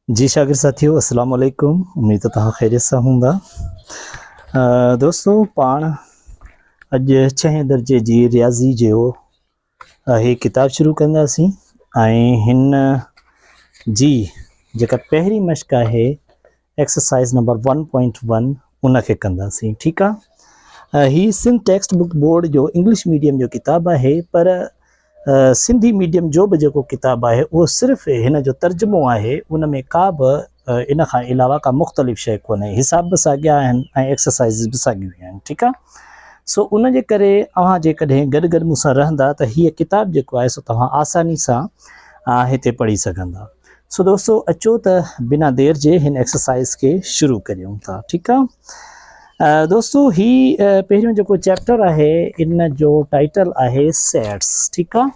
جي شاگرد ساٿيو السلام عليڪم اميد ته توهان خيريت سان هوندا دوستو پاڻ اڄ ڇهين درجي جي رياضي جو هي ڪتاب شروع ڪنداسين ۽ هن جي جيڪا پهرين مشق آهي exercise number one point one ان کي ڪنداسين ٺيڪ آ هي سنڌ ٽيڪسٽ بڪ بورڊ جو انگلش ميڊيم جو ڪتاب آهي پر سنڌي ميڊيم جو به جيڪو ڪتاب آهي اهو صرف هن جو ترجمو آهي ان ۾ ڪا به ان کان علاوه ڪا مختلف شيء ڪونهي حساب به ساڳيا آهن ۽ ايڪسرسائزز به ساڳيون آهن ٺيڪ آ سو ان جي ڪري اوهان جيڪڏهن گڏ گڏ مون سان رهندا ته هيء ڪتاب جيڪو آهي سو توهان آساني سان هتي پڙهي سگهندا سو دوستو اچو ته بنا دير جي هن ايڪسرسائز کي شروع ڪريون ٿا ٺيڪ آ دوستو هي پهريون جيڪو چيپٽر آهي ان جو ٽائيٽل آهي سيٽس ٺيڪ آ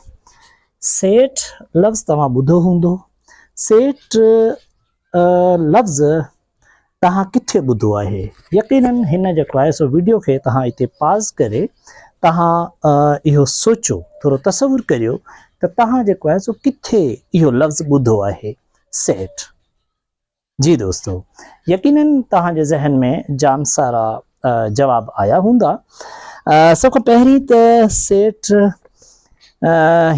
سيٽ لفظ توهان ٻڌو هوندو سيٽ لفظ توهان ڪٿي ٻڌو آهي يقينا هن جيڪو آهي سو ويڊيو کي توهان هتي پاز ڪري توهان اهو سوچو ٿورو تصور ڪريو ته توهان جيڪو آهي سو ڪٿي اهو لفظ ٻڌو آهي سيٽ جي دوستو يقينا توهان جي ذهن ۾ جام سارا جواب آيا هوندا. سڀ کان پهرين ته سيٽ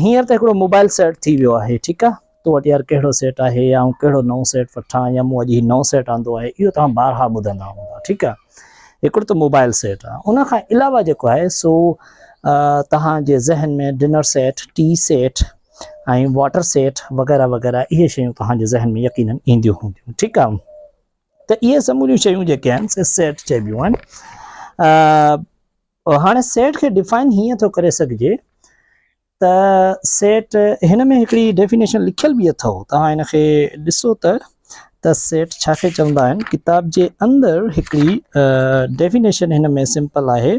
هينئر ته هڪڙو موبائل سيٽ ٿي ويو آهي ٺيڪ آ تو وٽ يار ڪهڙو سيٽ آهي يا آئون ڪهڙو نئون سيٽ وٺان يا مون اڄ هي نئون سيٽ آندو آهي اهو توهان بارها ٻڌندا هوندا ٺيڪ آ هڪڙو ته موبائل سيٽ آ ان کان علاوه جيڪو آهي سو توهان جي ذهن ۾ dinner set tea set ۽ water set وغيره وغيره اهي شيون توهان جي ذهن ۾ يقينن اينديون هونديون ٺيڪ آ. ته اهي سموريون شيون جيڪي آهن سي سيٽ چئبيون آهن هاڻي سيٽ کي ڊفائن هيئن ٿو ڪري سگهجي ته سيٽ هن ۾ هڪڙي ڊيفينيشن لکيل به اٿو توهان هن کي ڏسو ته ته سيٽ ڇا کي چوندا آهن ڪتاب جي اندر هڪڙي ڊيفينيشن هن ۾ سمپل آهي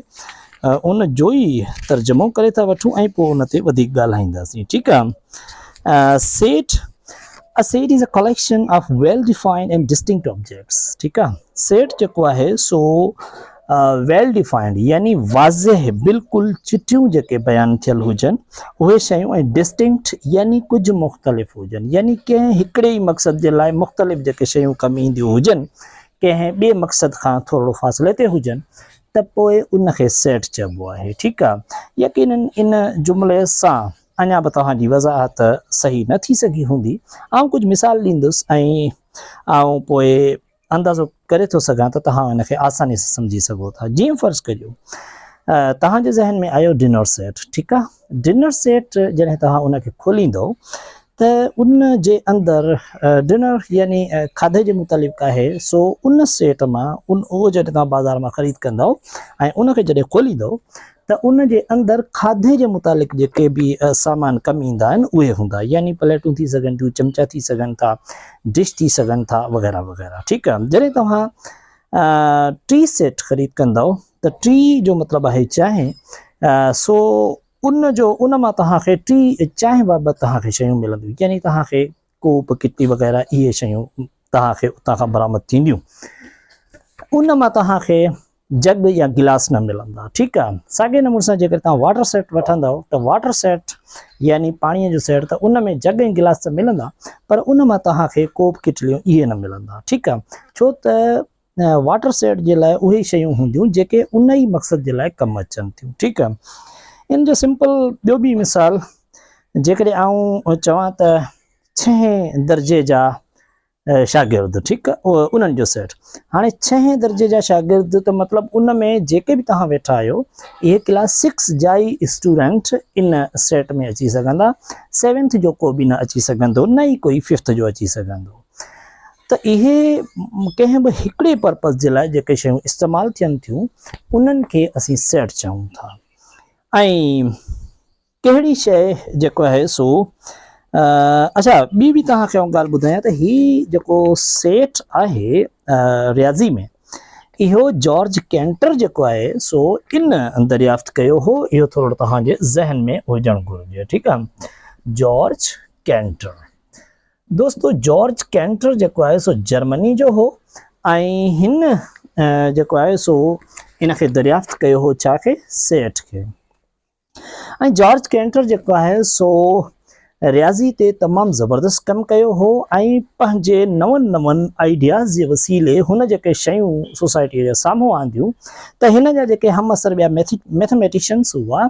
ان جوئي ترجمو ڪري ٿا وٺون ۽ پوء ان تي وڌيڪ ڳالهائينداسين ٺيڪ آ set A set is a collection of well-defined and distinct objects. ٺيڪ آ سيٽ جيڪو آهي سو ويل ڊيفائنڊ يعني واضح بلڪل چٽيون جيڪي بيان ٿيل هجن اهي شيون ۽ ڊسٽنڪٽ يعني ڪجهه مختلف هجن يعني ڪنهن هڪڙي ئي مقصد جي لاء مختلف جيڪي شيون ڪم اينديون هجن ڪنهن ٻئي مقصد کان ٿورڙو فاصلي تي هجن ته پوء ان کي سيٽ چئبو آهي. ٺيڪ آ. يقيناً ان جملي سان اڃا به توهان جي وضاحت صحيح نه ٿي سگهي هوندي. آئون ڪجهه مثال ڏيندس ۽ آئون پوء اندازو ڪري ٿو سگهان ته توهان ان کي آساني سان سمجهي سگهو ٿا. جيئن فرض ڪجو توهان جي ذهن ۾ آيو ڊنر سيٽ. ٺيڪ آ. ڊنر سيٽ جڏهن توهان ان کي کوليندو ته ان جي اندر ڊنر يعني کاڌي جي متعلق آهي سو ان سيٽ مان ان اهو جڏهن توهان بازار مان خريد ڪندو ۽ ان کي جڏهن کوليندو ته ان جي اندر کاڌي جي متعلق جيڪي به سامان ڪم ايندا آهن اهي هوندا يعني پليٽون ٿي سگهن ٿيون چمچا ٿي سگهن ٿا ڊش ٿي سگهن ٿا وغيره وغيره ٺيڪ آهي جڏهن توهان ٽي سيٽ خريد ڪندو ته ٽي جو مطلب آهي چانهه، سو ان جو ان مان توهان کي ٽي چانهه بابت توهان کي شيون ملنديون يعني توهان کي ڪوپ ڪٽي وغيره اهي شيون توهان کي اتان کان برآمد ٿينديون ان مان توهان کي جگ يا گلاس نه ملندا ٺيڪ آهي ساڳي نموني سان جيڪر توهان واٽر سيٽ وٺندو ته واٽر سيٽ يعني پاڻي جو سيٽ ته ان ۾ جگ ۽ گلاس ته ملندا پر ان مان توهان کي ڪوپ ڪٽليون اهي نه ملندا ٺيڪ آهي ڇو ته واٽر سيٽ جي لاء اهي ئي شيون هونديون جيڪي ان ئي مقصد جي لاء ڪم اچن ٿيون ٺيڪ آ ان جو سمپل ٻيو به مثال جيڪڏهن آئون چوان ته ڇهين درجي جا شاگرد ٺيڪ آ انهن جو سيٽ هاڻي ڇهين درجي جا شاگرد ته مطلب ان ۾ جيڪي به توهان ويٺا آهيو اهي ڪلاس سڪس جا ئي اسٽوڊنٽ ان سيٽ ۾ اچي سگهندا سيونٿ جو ڪو به نه اچي سگهندو نه ئي ڪوئي ففٿ جو اچي سگهندو ته اهي ڪنهن به هڪڙي پرپز جي لاء جيڪي شيون استعمال ٿين ٿيون انهن کي اسين سيٽ چئون ٿا ۽ ڪهڙي شيء جيڪو آهي سو اچا ٻي به توهان کي ڳالهه ٻڌايان ته هي جيڪو سيٽ آهي رياضي ۾ اهو جارج ڪينٽر جيڪو آهي سو ان دريافت ڪيو هو اهو ٿورو توهان جي ذهن ۾ هجڻ گهرجي ٺيڪ آهي جارج ڪينٽر دوستو جارج ڪينٽر جيڪو آهي سو جرمني جو هو ۽ هن جيڪو آهي سو ان کي دريافت ڪيو هو ڇا کي سيٽ کي ۽ جارج ڪينٽر جيڪو آهي سو رياضي تي تمام زبردست ڪم ڪيو هو ۽ پنهنجي نون نون آئيڊياز جي وسيلي هن جيڪي شيون سوسائٽي جي سامهون آنديون ته هن جا جيڪي هم عصر ٻيا ميٿميٽيشنس هئا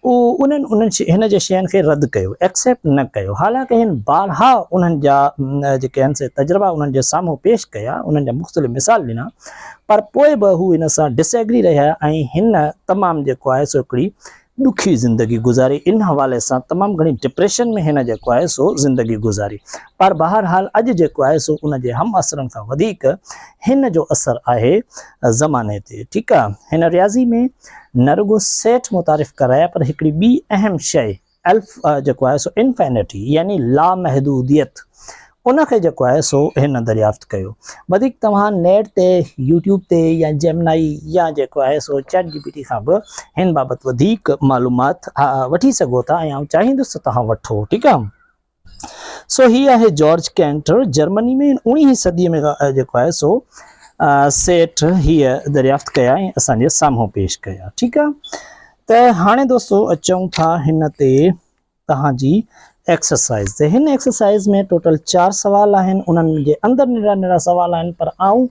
انهن هن جي شين کي رد ڪيو، Accept، نه ڪيو، حالانڪ هن بارها انهن جا جيڪي آهن سي تجربا انهن جي سامهون پيش ڪيا، انهن جا مختلف مثال ڏنا، پر پوء به هو هن سان Disagree رهيا ۽ هن تمام جيڪو آهي سو هڪڙي ڏکي زندگي گذاري، ان حوالي سان تمام گهڻي Depression ۾ هن جيڪو آهي سو زندگي گذاري، پر بهرحال اڄ جيڪو آهي سو ان جي همعصرن کان وڌيڪ هن جو اثر آهي زماني تي، ٺيڪ آهي، هن رياضي ۾. نه رڳو سيٽ متعارف ڪرايا پر هڪڙي ٻي اهم شيء الف جيڪو آهي سو انفينٽي يعني لامحدوديت ان کي جيڪو آهي سو هن دريافت ڪيو وڌيڪ توهان نيٽ تي يوٽيوب تي يا جيمنائي يا جيڪو آهي سو چيٽ جي پي ٽي کان به هن بابت وڌيڪ معلومات وٺي سگهو ٿا ۽ آئون چاهيندس ته توهان وٺو ٺيڪ آهي سو هي آهي جارج ڪينٽر، جرمني ۾ اوڻيهين صديء ۾ جيڪو آهي سو سيٽ هيء دريافت ڪيا ۽ اسان جي سامهون پيش ڪيا. ٺيڪ آ ته هاڻي دوستو اچون ٿا هن تي توهان جي ايڪسرسائيز تي. هن ايڪسرسائيز ۾ ٽوٽل چار سوال آهن، انهن جي اندر ننڍڙا ننڍڙا سوال آهن پر آئون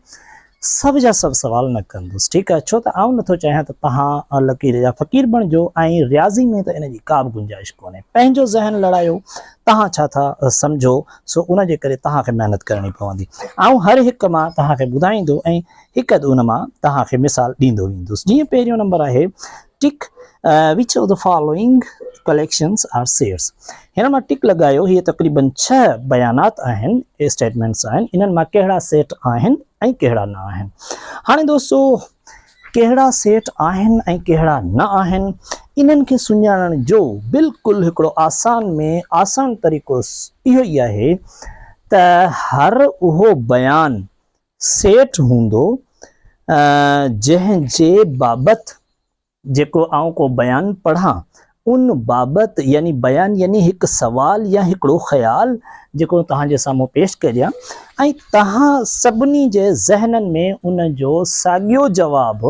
سڀ جا سڀ سوال نه ڪندس ٺيڪ آهي ڇو ته آئون نٿو چاهيان ته توهان لڪير جا فقير بڻجو ۽ رياضي ۾ ته ان جي ڪا به گنجائش ڪونهي پنهنجو ذهن لڙايو توهان ڇا ٿا سمجهو سو ان جي ڪري توهان کي محنت ڪرڻي پوندي آئون هر هڪ مان توهان کي ٻڌائيندو ۽ هڪ اڌ ان مان توهان کي مثال ڏيندو ويندس جيئن پهريون نمبر آهي ٽڪ، Which of the following collections are shares؟ هن مان ٽڪ لڳايو، هي تقريباً ڇهه بيانات آهن، Statements، آهن، انهن مان ڪهڙا سيٽ آهن ۽ ڪهڙا نه آهن. هاڻي دوستو ڪهڙا سيٽ آهن ۽ ڪهڙا نه آهن، انهن کي سڃاڻڻ جو بلڪل هڪڙو آسان ۾ آسان طريقو اهو ئي آهي ته هر اهو بيان سيٽ هوندو جنهن جي بابت جيڪو آئون ڪو بيان پڙهان ان بابت يعني بيان يعني هڪ سوال يا هڪڙو خيال جيڪو توهان جي سامهون پيش ڪريان ۽ توهان سڀني جي ذهنن ۾ ان جو ساڳيو جواب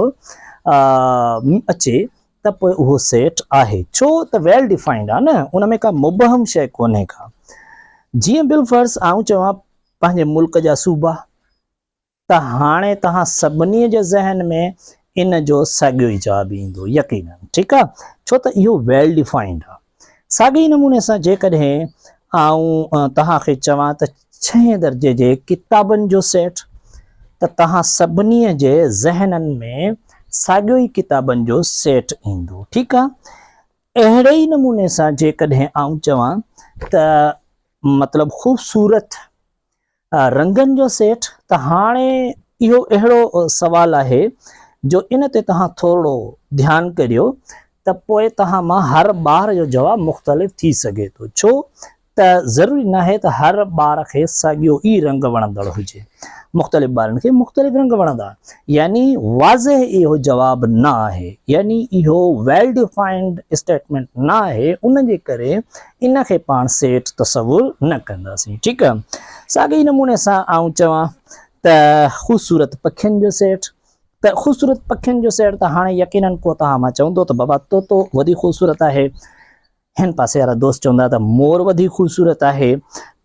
اچي ته پوء اهو سيٽ آهي ڇو ته ويل ڊفائنڊ آهي نه ان ۾ ڪا مبهم شيء ڪونهي ڪا جيئن بالفرض آئون چوان پنهنجي ملڪ جا صوبا ته هاڻي توهان سڀني جي ذهن ۾ ان جو ساڳيو ئي جواب ايندو يقيناً ٺيڪ آهي ڇو ته اهو ويل ڊيفائنڊ آهي ساڳي ئي نموني سان جيڪڏهن آئون توهان کي چوان ته ڇهين درجي جي ڪتابن جو سيٽ ته توهان سڀني جي ذهنن ۾ ساڳيو ئي ڪتابن جو سيٽ ايندو ٺيڪ آهي اهڙي ئي نموني سان جيڪڏهن آئون چوان ته مطلب خوبصورت رنگن جو سيٽ ته هاڻي اهو اهڙو سوال آهي جو ان تي توهان ٿورڙو ڌيان ڪريو ته پوء توهان مان هر ٻار جو جواب مختلف ٿي سگهي ٿو ڇو ته ضروري ناهي ته هر ٻار کي ساڳيو ئي رنگ وڻندڙ هجي مختلف ٻارن کي مختلف رنگ وڻندا يعني واضح اهو جواب نه آهي يعني اهو ويل ڊيفائنڊ اسٽيٽمنٽ نه آهي ان جي ڪري ان کي پاڻ سيٺ تصور نه ڪنداسين. ٺيڪ آ. ساڳئي نموني سان آئون چوان ته خوبصورت پکين جو سيٺ ته خوبصورت پکين جو سيٺ ته هاڻي يقينن ڪو توهان مان چوندو ته بابا طوطو وڌيڪ خوبصورت آهي. هن پاسي وارا دوست چوندا ته مور وڌيڪ خوبصورت آهي.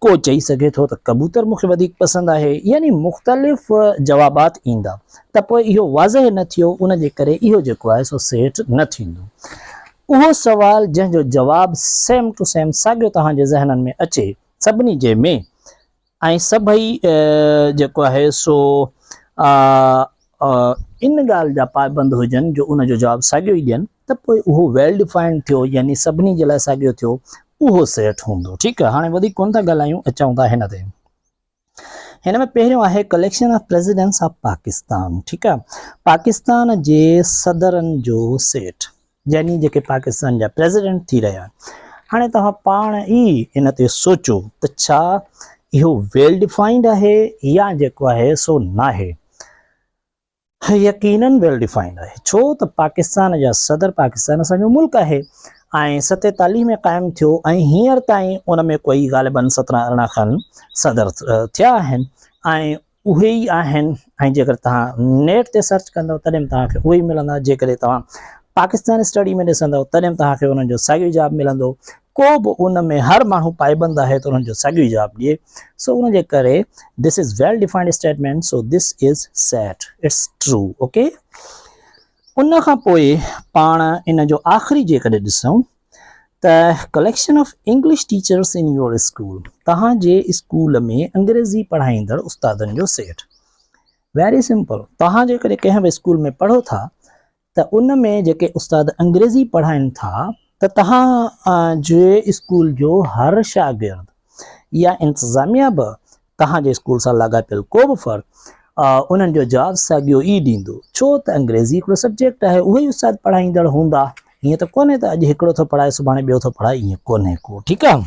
ڪو چئي سگهي ٿو ته ڪبوتر مون کي وڌيڪ پسند آهي. يعني مختلف جوابات ايندا ته پوء اهو واضح نه ٿيو ان جي ڪري اهو جيڪو آهي سو سيٺ نه ٿيندو. اهو سوال جنهن جو جواب سيم ٽو سيم ساڳيو توهان جي ذهنن ۾ اچي سڀني جي ۾ ۽ سڀئي جيڪو آهي سو ان ڳالهه جا پائبند هجن جو ان جو جواب ساڳيو ئي ڏين ته پوء اهو ويل ڊفائنڊ ٿيو يعني سڀني جي لاء ساڳيو ٿيو اهو سيٽ هوندو ٺيڪ هاڻي وڌيڪ ڪونه ٿا ڳالهايون اچون ٿا هن تي. هن ۾ پهريون آهي collection of presidents of Pakistan ٺيڪ آهي پاڪستان جي صدرن جو سيٽ يعني جيڪي پاڪستان جا پريزيڊنٽ ٿي رهيا آهن هاڻي توهان پاڻ ئي ان تي سوچو ته ڇا اهو ويل ڊيفائنڊ آهي يا جيڪو آهي سو ناهي هي يقينن ويل ڊيفائنڊ آهي ڇو ته پاڪستان جا صدر پاڪستان اسان جو ملڪ آهي ۽ ستيتاليهه ۾ قائم ٿيو ۽ هينئر تائين ان ۾ ڪوئي غالبن سترهن ارڙهن کن صدر ٿيا آهن ۽ اهي ئي آهن ۽ جيڪڏهن توهان نيٽ تي سرچ ڪندو تڏهن به توهان کي اهي ئي ملندا جيڪڏهن توهان پاڪستان اسٽڊي ۾ ڏسندو تڏهن به توهان کي انهن جو ساڳيو جواب ملندو ڪو به ان ۾ هر ماڻهو پائبند آهي ته انهن جو ساڳيو ئي جواب ڏئي سو ان جي ڪري This is well defined statement so this is set its true ok ان کان پوء پاڻ ان جو آخري جيڪڏهن ڏسون ته collection of English teachers in your school توهان جي اسڪول ۾ انگريزي پڙهائيندڙ استادن جو سيٽ ويري سمپل توهان جيڪڏهن ڪنهن به اسڪول ۾ پڙهو ٿا ته ان ۾ جيڪي استاد انگريزي پڙهائين ٿا ته تهان جي اسڪول جو هر شاگرد يا انتظاميه به تهان جي اسڪول سان لاڳاپيل ڪو به فرد انهن جو جواب ساڳيو ئي ڏيندو ڇو ته انگريزي هڪڙو سبجيڪٽ آهي اهي ئي استاد پڙهائيندڙ هوندا هيئن ته ڪونهي ته اڄ هڪڙو ٿو پڙهائي سڀاڻي ٻيو ٿو پڙهائي ايئن ڪونهي ڪو ٺيڪ آهي.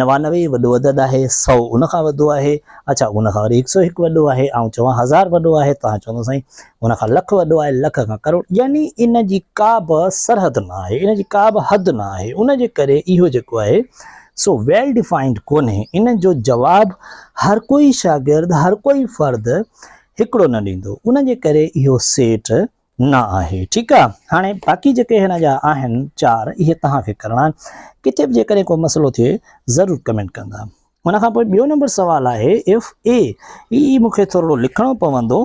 نوانوي وڏو عدد آهي، سؤ ان کان وڏو آهي، اڇا ان کان وري هڪ سؤ هڪ وڏو آهي، آئون چوان هزار وڏو آهي، توهان چوندو سائين ان کان لک وڏو آهي، لک کان ڪروڙ، يعني ان جي ڪا به سرحد نه آهي، ان جي ڪا به حد نه آهي، ان جي ڪري اهو جيڪو آهي سو ويل ڊفائنڊ ڪونهي، ان جو جواب هر ڪوئي شاگرد، هر ڪوئي فرد هڪڙو نه ڏيندو، ان جي ڪري اهو سيٽ نه آهي ٺيڪ آ هاڻي باقي جيڪي هن جا آهن چار اهي توهان کي ڪرڻا آهن ڪٿي به جيڪڏهن ڪو مسئلو ٿئي ضرور ڪمينٽ ڪندا ان کان پوء ٻيو نمبر سوال آهي اف اي هي مون کي ٿورڙو لکڻو پوندو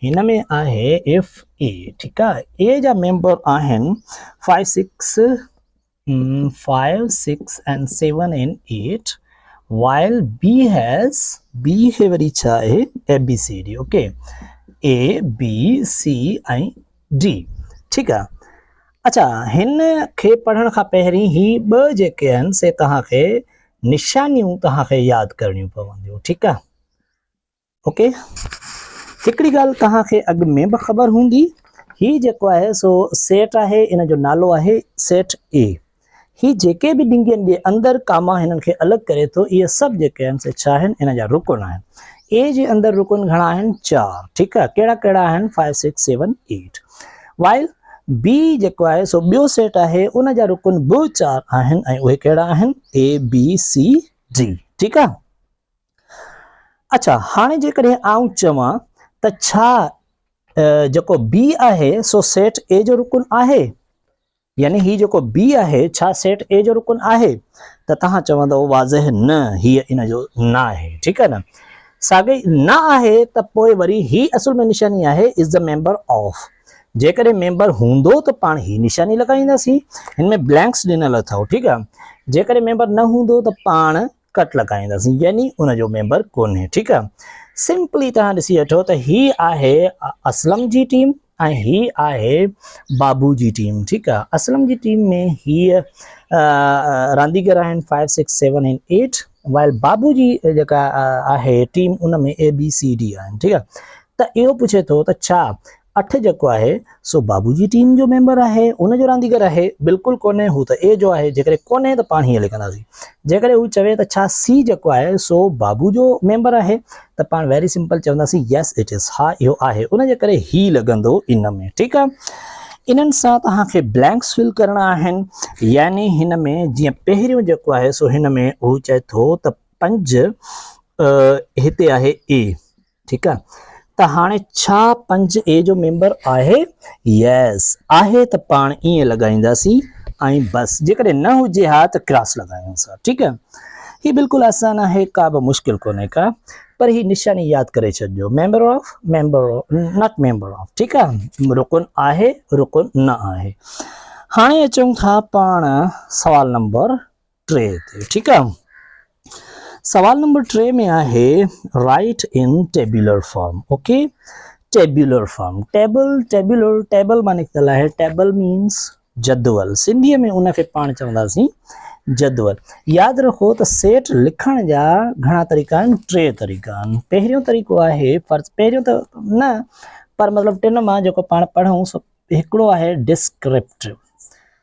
هن ۾ آهي اف اي ٺيڪ آ اي جا ميمبر آهن 5 6 five six and seven and eight while B has B هي وري ڇا آهي A B C D okay A B C ۽ D ٺيڪ آ اچھا هن کي پڙهڻ کان پهرين هي ٻه جيڪي آهن سي توهان کي نشانيون توهان کي ياد ڪرڻيون پونديون ٺيڪ آ اوڪي هڪڙي ڳالهه توهان کي اڳ ۾ به خبر هوندي هي جيڪو آهي سو سيٽ آهي ان جو نالو آهي سيٽ اي هي جيڪي به ڊنگين جي اندر ڪاما هنن کي الڳ ڪري ٿو اهي سڀ جيڪي آهن سي ڇا آهن ان جا رڪن آهن اي جي اندر رڪن گهڻا آهن چار ٺيڪ آهي ڪهڙا ڪهڙا آهن five six seven eight while B جيڪو آهي سو ٻيو سيٽ آهي ان جا رڪن به چار آهن ۽ اهي ڪهڙا آهن اي بي سي ڊي ٺيڪ آهي اڇا هاڻي جيڪڏهن آئون چوان ته ڇا جيڪو B آهي سو سيٽ A جو رڪن آهي؟ يعني هي جيڪو B آهي ڇا سيٽ A جو رڪن آهي؟ ته توهان چوندو واضح نه هي ان جو نه آهي ٺيڪ آهي نه ساڳي نه آهي ته پوء وري هي اصل ۾ نشاني آهي از ذا ميمبر آف جيڪڏهن ميمبر هوندو ته پاڻ هي نشاني لڳائينداسين هن ۾ بلينڪس ڏنل اٿو ٺيڪ آهي جيڪڏهن ميمبر نه هوندو ته پاڻ ڪٽ لڳائينداسين يعني ان جو ميمبر ڪونهي ٺيڪ آ سمپلي توهان ڏسي وٺو ته هي آهي اسلم جي ٽيم ۽ هي آهي بابو جي ٽيم ٺيڪ آ اسلم جي ٽيم ۾ هي رانديگر آهن 5 6 7 ۽ 8 وائل بابو جي جيڪا آهي ٽيم ان ۾ اي بي سي ڊي آهن ٺيڪ آ ته اهو پڇي ٿو ته ڇا اٺ جيڪو آهي سو بابو جي ٽيم جو ميمبر آهي ان جو رانديگر آهي بلڪل ڪونهي هو ته اي جو آهي جيڪڏهن ڪونهي ته پاڻ هيئن لکنداسين جيڪڏهن هو چوي ته ڇا سي جيڪو آهي سو بابو جو ميمبر آهي ته پاڻ ويري سمپل چونداسين يس اٽ از ها اهو آهي ان جي ڪري هي لڳندو ان ۾ ٺيڪ آهي انهن سان توهان کي بلينڪس فل ڪرڻا آهن يعني هن ۾ جيئن پهريون جيڪو آهي سو هن ۾ هو چئي ٿو ته پنج هتي آهي اي ٺيڪ آ ته هاڻي ڇا پنج اي جو ميمبر آهي؟ ييس آهي ته پاڻ ائين لڳائينداسين ۽ بس جيڪڏهن نه هجي ها ته ڪراس لڳايون ٿا ٺيڪ آ هي بلڪل آسان آهي ڪابه مشڪل ڪونهي ڪا پر هي نشاني ياد ڪري ڇڏجو member of member not member of ٺيڪ آ رڪن آهي رڪن نه آهي هاڻي اچون ٿا پاڻ سوال نمبر ٽي تي ٺيڪ آ سوال نمبر ٽي ۾ آهي write in tabular form okay tabular form table tabular table مان نڪتل آهي ٽيبل مينس جدول سنڌي ۾ ان کي پاڻ چونداسين جدول ياد رکو ته سيٽ لکڻ جا گھڻا طريقا آهن ٽي طريقا آهن پهريون طريقو آهي فرض پهريون ته نه پر مطلب ٽن مان جيڪو پاڻ پڙھون سو هڪڙو آهي ڊسڪرپٽو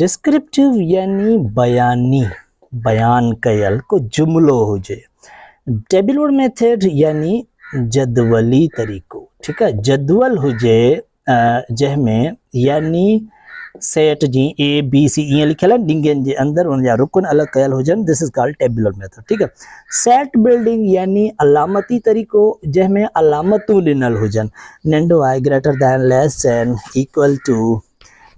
ڊسڪرپٽيو يعني بياني، بيان ڪيل ڪو جملو هجي. ٽيبلور ميٿڊ يعني جدولي طريقو، ٺيڪ آهي، جدول هجي جنهن ۾ يعني سيٽ جي اي بي سي ائين لکيل آهن ڏنگين جي اندر ان جا رڪن الڳ ڪيل هجن this is called tabular method ٺيڪ آهي سيٽ بلڊنگ يعني علامتي طريقو جنهن ۾ علامتون ڏنل هجن ننڍو آهي greater than less than equal to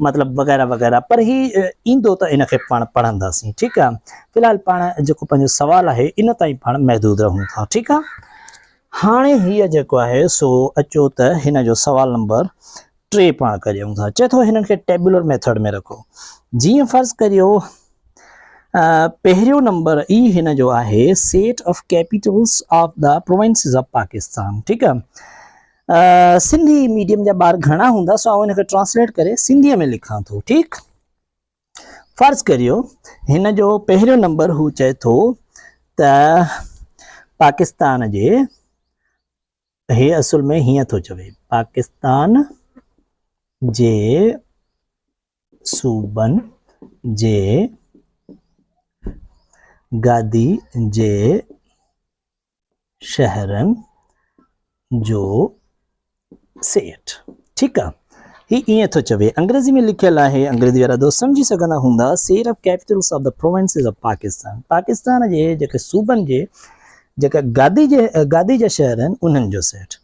مطلب وغيره وغيره پر هي ايندو ته ان کي پاڻ پڙهنداسين ٺيڪ آ في الحال پاڻ جيڪو پنهنجو سوال آهي ان تائين پاڻ محدود رهون ٿا ٺيڪ آ هاڻي هي جيڪو آهي سو اچو ته هن جو سوال نمبر ٽي پاڻ ڪريون ٿا چئي ٿو هنن کي ٽيبولر ميٿڊ ۾ رکو جي فرض ڪريو پهريون نمبر اي هن جو آهي set of capitals of the provinces of Pakistan ٺيڪ آ سنڌي ميڊيم جا ٻار گهڻا هوندا سو آئون هن کي ٽرانسليٽ ڪري سنڌيء ۾ لکان ٿو ٺيڪ فرض ڪريو هن جو پهريون نمبر هو چئي ٿو ته پاڪستان جي هي اصل ۾ هيئن ٿو چوي پاڪستان جي صوبن جي گادي جي شهرن جو سيٽ ٺيڪ آ هي ايئن ٿو چوي انگريزي ۾ لکيل آهي انگريزي وارا دوست سمجهي سگهندا هوندا set of capitals of the provinces of Pakistan Pakistan جي جيڪي صوبن جي جيڪا گادي جي گادي جا شهر آهن انهن جو سيٽ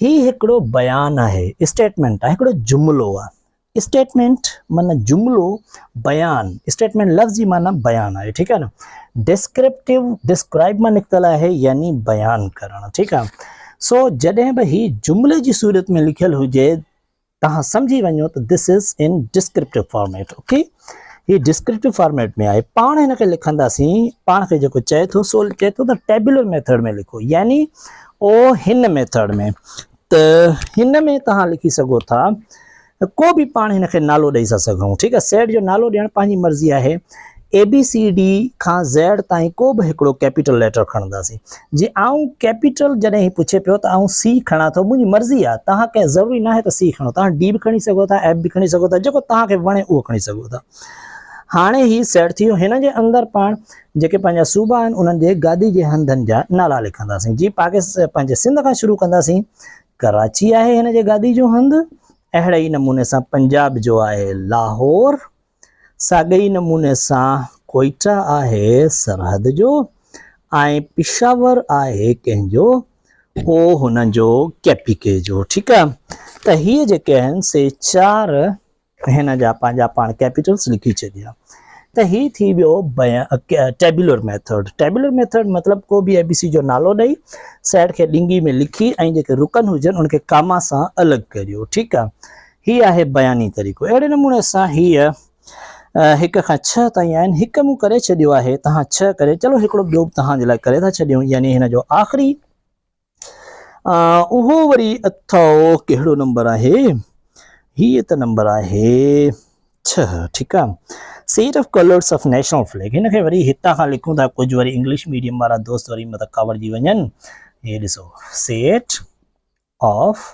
هي هڪڙو بيان آهي اسٽيٽمنٽ آهي هڪڙو جملو آهي اسٽيٽمينٽ معنيٰ جملو، بيان، اسٽيٽمينٽ لفظ جي معنيٰ بيان آهي ٺيڪ آهي نه ڊسڪرپٽيو ڊسڪرائب مان نڪتل آهي يعني بيان ڪرڻ ٺيڪ آهي سو جڏهن به هي جملي جي صورت ۾ لکيل هجي توهان سمجهي وڃو ته this is in descriptive format okay هي ڊسڪرپٽيو فارميٽ ۾ آهي پاڻ هن کي لکنداسين پاڻ کي جيڪو چئي ٿو سو چئي ٿو ته ٽيبولر ميٿڊ ۾ لکو يعني او هن ميٿڊ ۾ ته هن ۾ توهان لکي سگهو ٿا ڪو به پاڻ هن کي نالو ڏئي ٿا سگهون ٺيڪ آهي سيٽ جو نالو ڏيڻ پنهنجي مرضي آهي اي بي سي ڊي کان زيڊ تائين ڪو به هڪڙو ڪيپيٽل ليٽر کڻنداسين جي آئون ڪيپيٽل جڏهن هي پڇي پيو ته آئون سي کڻان ٿو منهنجي مرضي آهي توهان کي ضروري ناهي ته سي کڻو توهان ڊي به کڻي سگهو ٿا ايف به کڻي سگهو ٿا جيڪو توهان کي وڻي اهو کڻي سگهو ٿا هاڻي هي سيٽ ٿي ويو هن جي اندر پاڻ جيڪي پنهنجا صوبا آهن انهن جي گادي جي هنڌن جا نالا لکنداسين جي پاڪستان پنهنجي سنڌ کان شروع ڪنداسين ڪراچي آهي هن جي گادي جو هنڌ اهڙي ئي نموني سان پنجاب جو آهي لاهور ساڳئي ئي نموني سان ڪوئيٽا آهي سرحد جو ۽ پشاور آهي ڪنهن جو او هن جو ڪيپيڪي جو ٺيڪ آهي ته هي جيڪي آهن سي چار هن جا پنهنجا پاڻ ڪيپيٽلز لکي ڇڏيا ته هي ٿي ويو ٽيبولر ميٿڊ ٽيبولر ميٿڊ مطلب ڪو به اي بي سي جو نالو ڏئي سيٽ کي ڏنگي ۾ لکي ۽ جيڪي رڪن هجن ان کي ڪاما سان الڳ ڪريو ٺيڪ آهي هي آهي بياني طريقو اهڙي نموني سان هيء هڪ کان ڇهه تائين آهن هڪ مون ڪري ڇڏيو آهي تهان ڇهه ڪري چلو هڪڙو ٻيو به تهان جي لاء ڪري ٿا ڇڏيون يعني هن جو آخري اهو وري اٿئو ڪهڙو نمبر آهي هي ته نمبر آهي ڇهه ٺيڪ آ set of colours of national flag هن کي وري هتان کان لکون ٿا ڪجهه وري انگلش ميڊيم وارا دوست وري مت ڪاوڙجي وڃن هي ڏسو set of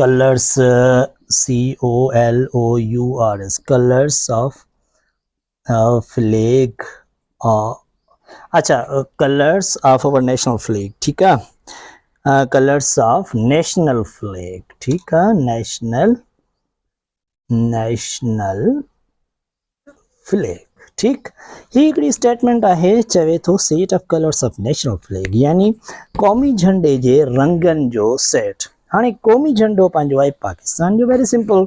colours C O L O U R S colours of flag اڇا colours of our national flag ٺيڪ آ ڪلرس آف نيشنل فليگ ٺيڪ آ نيشنل نيشنل فليگ ٺيڪ هي هڪڙي اسٽيٽمنٽ آهي چوي ٿو set of colours of national flag يعني قومي جھنڊي جي رنگن جو سيٽ هاڻي قومي جهنڊو پنهنجو آهي پاڪستان جو ويري سمپل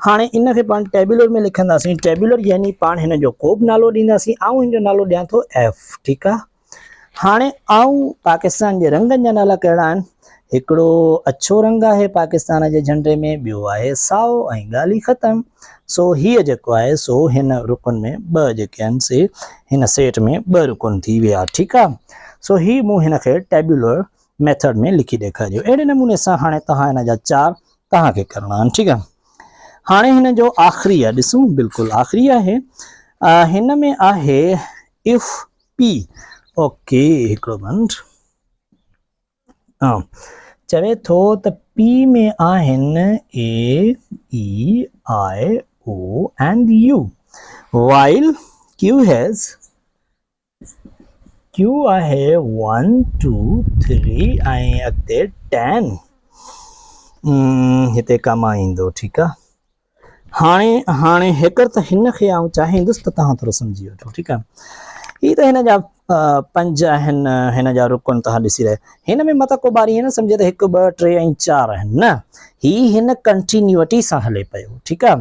هاڻي ان کي پاڻ ٽيبلر ۾ لکنداسين ٽيبلر يعني پاڻ هن جو ڪو به نالو ڏينداسين آئون هن جو نالو ڏيان ٿو ايف ٺيڪ آهي هاڻي آئون پاڪستان جي رنگن جا نالا ڪهڙا آهن هڪڙو اڇو رنگ آهي پاڪستان جي جهنڊي ۾ ٻيو آهي سائو ۽ ڳالهي ختم سو هي جيڪو آهي سو هن رڪن ۾ ٻه جيڪي آهن سي هن سيٽ ۾ ٻه رڪن ٿي ويا ٺيڪ آهي سو هي مون هن کي ٽيبلر ميٿڊ ۾ لکي ڏيکاريو اهڙي نموني سان هاڻي توهان هن جا چار توهان کي ڪرڻا آهن ٺيڪ آهي هاڻي هن جو آخري آهي ڏسون بلڪل آخري آهي هن ۾ آهي اف پي اوڪي هڪڙو منٽ چوي ٿو ته پي ۾ آهن A E I O and U while Q has Q آهي ون ٽو ٿري ۽ اڳتي ٽين هتي ڪم ايندو ٺيڪ آ هاڻي هاڻي هيڪر ته هن کي آئون چاهيندس ته توهان ٿورو سمجهي وٺو ٺيڪ آ هي ته هن جا پنج آهن هن جا رڪن توهان ڏسي رهيا هن ۾ متا ڪو ٻاري نه سمجهي ته هڪ ٻه ٽي ۽ چار آهن نه هي هن ڪنٽينيوٽي سان هلي پيو ٺيڪ آ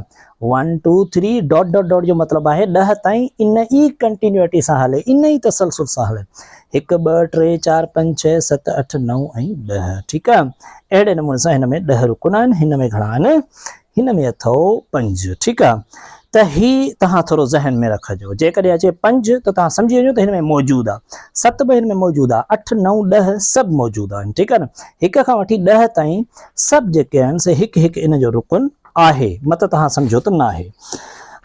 one two three dot dot dot جو مطلب آهي ڏهه تائين ان ئي ڪنٽينيوٽي سان هلي ان ئي تسلسل سان هلي هڪ ٻه ٽي چار پنج ڇهه ست اٺ نو ۽ ڏهه ٺيڪ آهي اهڙي نموني سان هن ۾ ڏهه رڪن آهن هن ۾ گهڻا آهن هن ۾ اٿو پنج ٺيڪ آهي ته هي توهان ٿورو ذهن ۾ رکجو جيڪڏهن اچي پنج ته توهان سمجهي وڃو ته هن ۾ موجود آهي ست به هن ۾ موجود آهي اٺ نو ڏه سڀ موجود آهن ٺيڪ آهي نه هڪ کان وٺي ڏهه تائين سڀ جيڪي آهن سي هڪ هڪ ان جو رڪن آهي مته توهان سمجهو ته ناهي.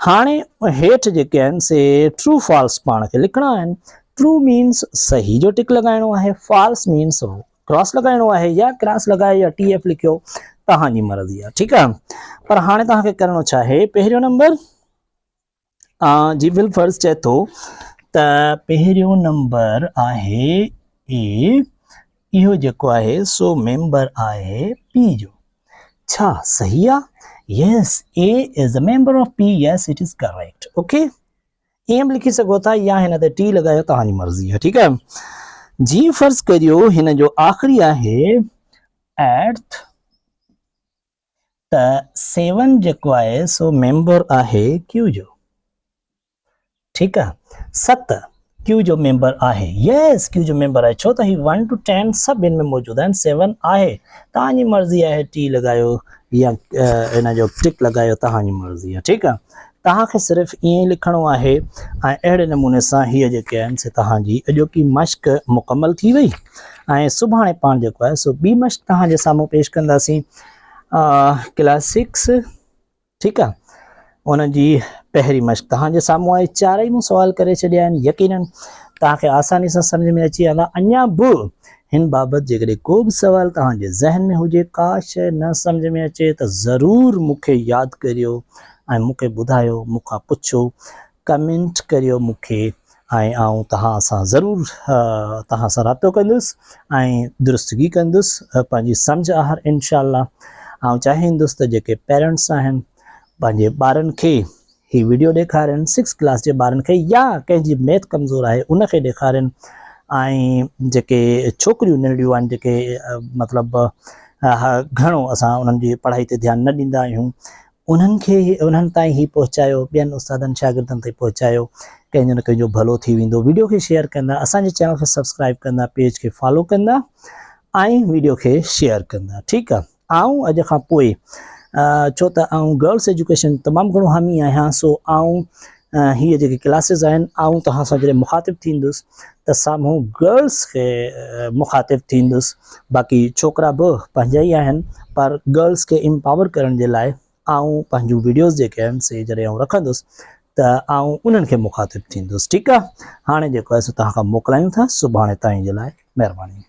هاڻي هيٺ جيڪي آهن سي True False پاڻ کي لکڻا آهن. True مينس صحيح جو ٽڪ لڳائڻو آهي False مينس ڪراس لڳائڻو آهي يا ڪراس لڳايو يا ٽي ايف لکيو توهان جي مرضي آهي ٺيڪ آهي پر هاڻي توهان کي ڪرڻو ڇا آهي پهريون نمبر جيبل فرض چئي ٿو ته پهريون نمبر آهي اي اهو جيڪو آهي سو ميمبر آهي پي جو ڇا صحيح آهي yes A is a member of P yes it is correct okay M لکي سگهو ٿا يا هن تي ٽي لڳايو توهان جي مرضي آهي ٺيڪ آهي جي فرض ڪريو هن جو آخري آهي ايرٿ ته سيون جيڪو آهي سو ميمبر آهي ڪيو جو ٺيڪ آهي ست ڪيو جو ميمبر آهي يس ڪيو جو ميمبر آهي ڇو ته هي ون ٽو ٽين سڀ هن ۾ موجود آهن سيون آهي تان جي مرضي آهي ٽي لڳايو يا هن جو ٽڪ لڳايو تان جي مرضي آهي ٺيڪ آهي توهان کي صرف ائين ئي لکڻو آهي ۽ اهڙي نموني سان هيء جيڪي آهن سي توهان جي اڄوڪي مشق مڪمل ٿي وئي ۽ سڀاڻي پاڻ جيڪو آهي سو ٻي مشق توهان جي سامهون پيش ڪنداسين ڪلاس سڪس ٺيڪ آهي ان جي پهرين مشق توهان جي سامهون آهي چارئي مون سوال ڪري ڇڏيا آهن يقينن توهان کي آساني سان سمجھ ۾ اچي ويندا اڃا به هن بابت جيڪڏهن ڪو به سوال توهان جي ذهن ۾ هجي ڪا شيء نه سمجھ ۾ اچي ته ضرور مون کي ياد ڪريو ۽ مون کي ٻڌايو مون کان پڇو ڪمينٽ ڪريو مون کي ۽ آئون توهان سان ضرور توهان سان رابطو ڪندس ۽ درستگي ڪندس پنهنجي سمجھ آهر انشاء الله آئون چاهيندس ته جيڪي پيرنٽس آهن پنهنجي ٻارن کي هي ويڊيو ڏيکارين سڪس ڪلاس جي ٻارن کي يا ڪنهن جي ميٿ ڪمزور آهي ان کي ڏيکارين ۽ جيڪي ڇوڪريون ننڍڙيون آهن جيڪي مطلب گھڻو اسان انهن جي پڙهائي تي ڌيان نه ڏيندا آهيون انهن کي انهن تائين هي پهچايو ٻين استادن شاگردن تائين پهچايو ڪنهن جو نه ڪنهن جو ڀلو ٿي ويندو ويڊيو کي شيئر ڪندا اسان جي چينل کي سبسڪرائب ڪندا پيج کي فالو ڪندا ۽ ويڊيو کي شيئر ڪندا ٺيڪ آ آئون اڄ کان پوء ڇو ته آئون گرلس ايجوڪيشن تمام گھڻو حامي آهيان سو آئون هي جيڪي ڪلاسز آهن آئون توهان سان جڏهن مخاطب ٿيندس ته سامهون گرلس کي مخاطب ٿيندس باقي ڇوڪرا به پنهنجا ئي آهن پر گرلس کي امپاور ڪرڻ جي لاء آئون پنهنجون ويڊيوز جيڪي آهن سي جڏهن آئون رکندس ته آئون انهن کي مخاطب ٿيندس ٺيڪ آهي هاڻي جيڪو آهي سو توهان کان موڪلايون ٿا سڀاڻي تائين جي لاء مهرباني